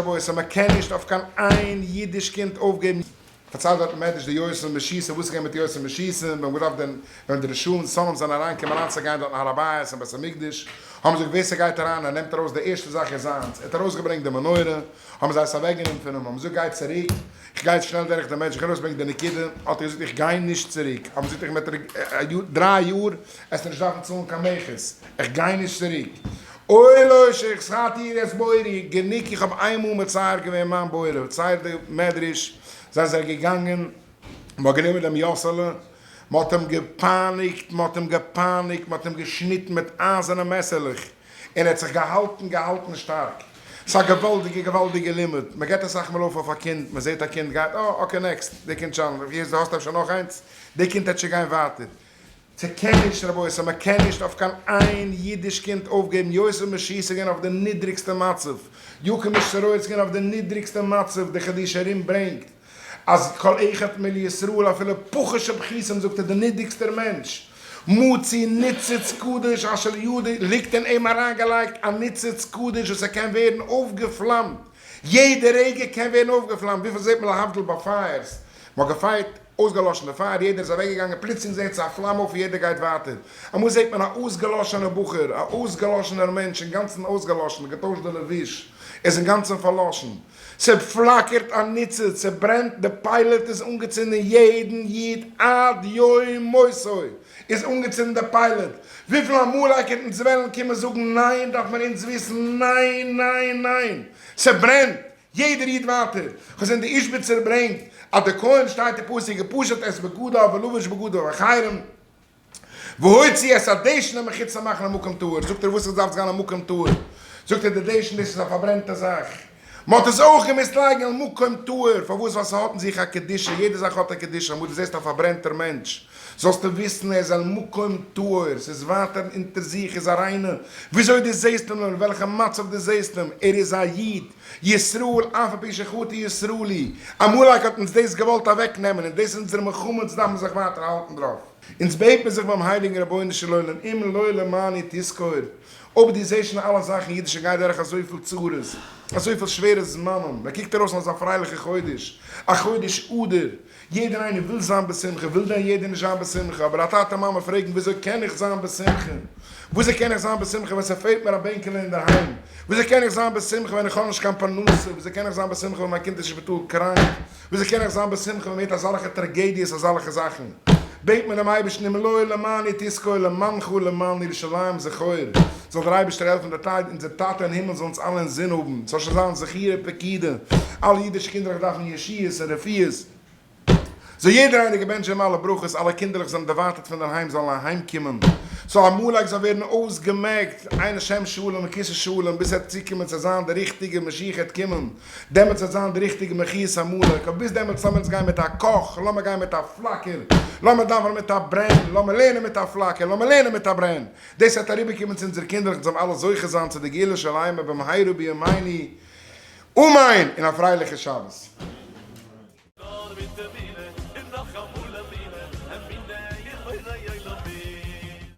שבועות אז מען קען נישט אויף קיין איין אידיש קינד אויפגעבן. פארציילט דארט מעדרש די יועצים משיסה, וואס איז געווען מיט יועצים משיסה, מען האט געדארפט דען ווען די ראשון סאלם זענען אריין געקומען אריינצוגיין דארט אין הר הבית אין בית המקדש, האבן זיי געזאגט ווער ס'גייט אריין און נעמט ארויס די ערשטע זאך איז זיינס, ער האט ארויסגעברענגט די מנורה, האבן זיי עס אוועק גענומען פון אים, האבן געזאגט גיי צוריק, איך גיי שנעל דורך די מענטשן, איך גיי ארויסברענגען די נקודה, האט ער געזאגט איך גיי נישט צוריק, האבן זיי געזאגט דריי יאר עסטו נישט דארפן צאלן קיין מכס, איך גיי נישט צוריק. אוי לא שיך שכרתי איר את בורי, גענוג איך האב איינמאל מצער געווען מיין בורא, צייט די מדרש זענען זיי געגאנגען, מען האט גענומען דעם יאסעלע, מען האט אים געפייניגט, מען האט אים געפייניגט, מען האט אים געשניטן מיט אייזערנע מעסערלעך, און ער האט זיך געהאלטן געהאלטן שטארק, ס'איז א געוואלדיגע געוואלדיגע לימוד, מען גיבט אסאך מאל אויף אויף א קינד, מען זעט א קינד גייט, אה אקעי נעקסט, די קינד טשאלענט, איך זע דו האסט אפשר נאך איינס, די קינד העט שוין גיין ווייטער. ס'קענישט רבותי מ'קענישט אויף קיין איין אידיש קינד אויפגעבן יוסף משיסגען אויף די נידריגסטע מצב יעקב משטרויצקין אויף די נידריגסטע מצב די חידושי הרים ברענגט אז כל אחד מלישראל אפילו פחה שבכיסם זאגט ער די נידריגסטער מענטש מוציא ניצוץ קדוש אשר ידו ליגט אין אים אריינגעלייגט א ניצוץ קדוש וואס ער קען ווערן אויפגעפלאמט יעדע רגע קען ווערן אויפגעפלאמט וויפיל זעהט מען להבדיל ביי פייערס מ'האט געפייערט אויסגעלאשן די פייער, יעדער איז אוועקגעגאנגען, פלוצלינג זעהט זיך א פלאם אויף און יעדער גייט ווייטער. אמאל זעהט מען א אויסגעלאשענער בחור, א אויסגעלאשענער מענטש, אינגאנצן אויסגעלאשן, געטוישט די לבוש, ער איז אינגאנצן פארלאשן. ס'פלאקערט א ניצוץ, ס'ברענט, די פיילעט איז אנגעצינדן, יעדן איד עד יום מותו איז אנגעצינדן די פיילעט. וויפיל עמלק אונז וועלן קומען זאגן ניין דארף מען אונז וויסן, ניין ניין ניין! ס'ברענט! יעדער איד ווייטער, כ'האב געזען די איזשביצער ברענגט אז די כהן שטייט אין פסוק ופשוט את בגדיו ולובש בגדיו החירום והוציא את הדשן מחוץ למחנה מקום טהור, זאגט ער וואס עס דארף זיין א מקום טהור, זאגט ער די דשן דאס איז א פארברענטע זאך, מען האט עס אויך געמוזט לייגן על מקום טהור, פארוואס ווייל ס'האט אין זיך א קדושה, יעדע זאך האט א קדושה, אמאל דו זעסט א פארברענטער מענטש, זאלסטו וויסן ער איז על מקום טהור, ס'איז ווייטער אונטער זיך איז א ריינע, וויאזוי דו זעסט אים און אין וועלכע מצב דו זעסט אים, ער איז א איד, ישראל אף על פי שחוטא ישראל היא, עמלק האט אונז דאס געוואלט אוועק נעמען און דאס איז אונזער מלחמה אונז דארפן זיך ווייטער האלטן דערויף. אונז בעטן זיך ביים הייליגן רבונו של עולם אם לא למעני תזכור, אויב דו זעסט שוין אלע זאכן אידישע גייט דורך אזויפיל צרות, אזויפיל שווערע זמנים, מ'קוקט ארויס אויף אזא פרייליכע חודש, א חודש אדר, יעדער איינער וויל זיין בשמחה, וויל דען יעדער נישט זיין בשמחה? אבער א טאטע מאמע פרעגן וויאזוי קען איך זיין בשמחה? וויאזוי קען איך זיין בשמחה ווען ס'פעלט מיר א בענקעלע אינדערהיים? וויאזוי קען איך זיין בשמחה ווען איך האב נישט קיין פרנסה? וויאזוי קען איך זיין בשמחה ווען מיין קינד איז שפיטאל קראנק? וויאזוי קען איך זיין בשמחה ווען מ'הערט אזאלעכע טראגעדיעס אזאלעכע זאכן? בעט מען דעם אייבערשטן הימלאי למעני תזכור למענך ולמען ירושלים זכור זאל דער אייבערשטער העלפן די טייד אונזער טאטע אין הימל זאל אונז אלע אינזין האבן, ס'זאל שוין זיין זכירה פקידה, אלע אידישע קינדערלעך דארפן ישועות און רפואות, זאל יעדער הייליגער מענטש האבן אלע ברכות, אלע קינדערלעך זענען דערווייטערט פון דער היים זאלן אהיימקומען, ס'זאל עמלק זאל ווערן אויסגעמעקט, עיין השם שלום וכסא שלום, ביז עט צוקומען צו זיין די ריכטיגע משיח עט קומען, דעמאלטס עט זיין די ריכטיגע מחיית עמלק, אבער ביז דעמאלטס לאמיר אונז גיין מיט א קאך, לאמיר גיין מיט א פלאקער, לאמיר דאווענען מיט א ברען, לאמיר לערנען מיט א פלאקער, לאמיר לערנען מיט א ברען. דאס וועט אריבערקומען צו אונזערע קינדער און זיי וועלן אלע זוכה זיין צו די גאולה שלימה במהרה בימינו אמן און א פרייליכע שבת. נאר מיט אמונה און נאך אמאל אמונה, אמונה אין בורא עולמים.